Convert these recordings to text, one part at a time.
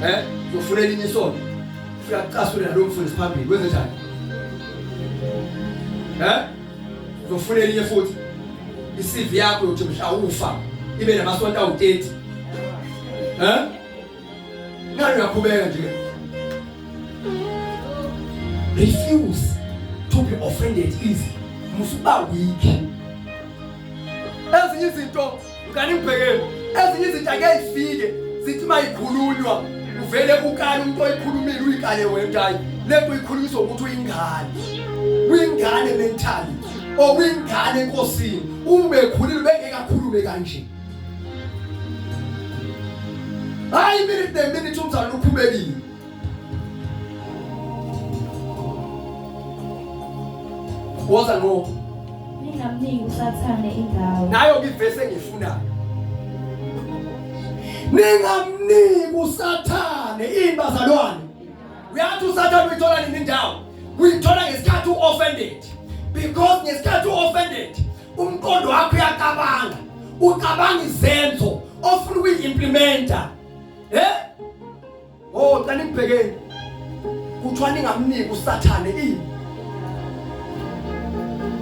eh uzofuna elinye isonto ufika kucasule nalo mfundisi phambili kwenze njani eh uzofuna elinye futhi i-CV yakho yokuthi mhla ufa ibe namasonto awu-30 eh ngani uyakhubeka nje refuse to be offended easy musuba weak ezinye izinto Mngani ngibhekeni ezinye izinto ake zifike zithi mayikhulunywa uvele ukale umuntu oyikhulumile uyikale wena hayi lento uyikhulumisa ukuthi uyingane uyingane mentally or uyingane enkosini uma ekhulile bengeke akhulume kanje hayi minute neminute umzalwane ukhubekile woza ngo ningamniki usathane indawo nayo ngivese ngifuna ningamniki usathane imbazalwane uyathi usathane uyithola nini indawo uyithola ngesikhathi uoffended because ngesikhathi uoffended umqondo wakho uyacabanga ucabanga izenzo ofuna ukuyi-implementa um eh? Oh, cela nibhekeni. Kuthiwa ningamniki uSathane ini?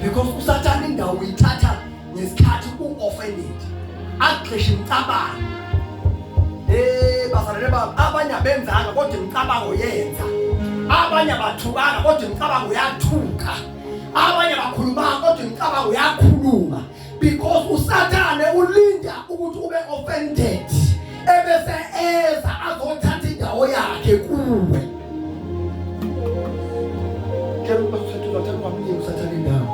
Because uSathane indawo uyithatha ngesikhathi u-offended. Agxishe imicabango. Eh, bazalwane bami, abanye abenzanga kodwa imicabango yenza. Abanye abathukanga kodwa imicabango yathuka. Abanye abakhulumanga kodwa imicabango yakhuluma. because usathane ulinda ukuthi ube offended ebese eza azothatha indawo yakhe kuwe ke ubathatha ubathatha kwamnye usathane indawo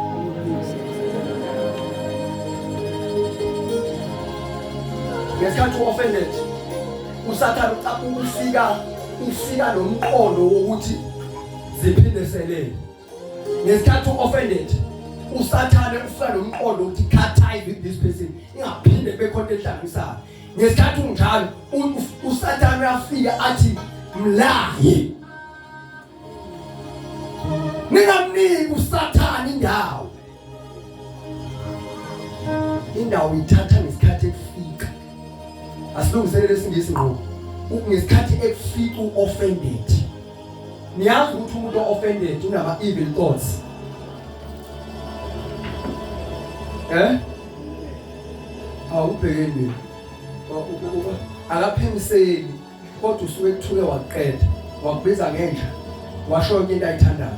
ngesikhathi u-offended usathane ufika ufika nomqondo wokuthi ziphindeselele ngesikhathi u-offended usathane ufika nomqondo ukuthi khathayi with this person ingaphinde kube khona enhlanganisayo ngesikhathi unjalo usathane uyafika athi mlahi ningamniki usathane indawo indawo ithatha ngesikhathi ekufika asilungiselele isingisi ngqo ngesikhathi ekufika uoffended niyazi ukuthi umuntu ooffended unama evil thoughts eh awubhekeni akaphemiseli kodwa usuke kuthuke waqeda wakubiza ngenja washo into ayithandayo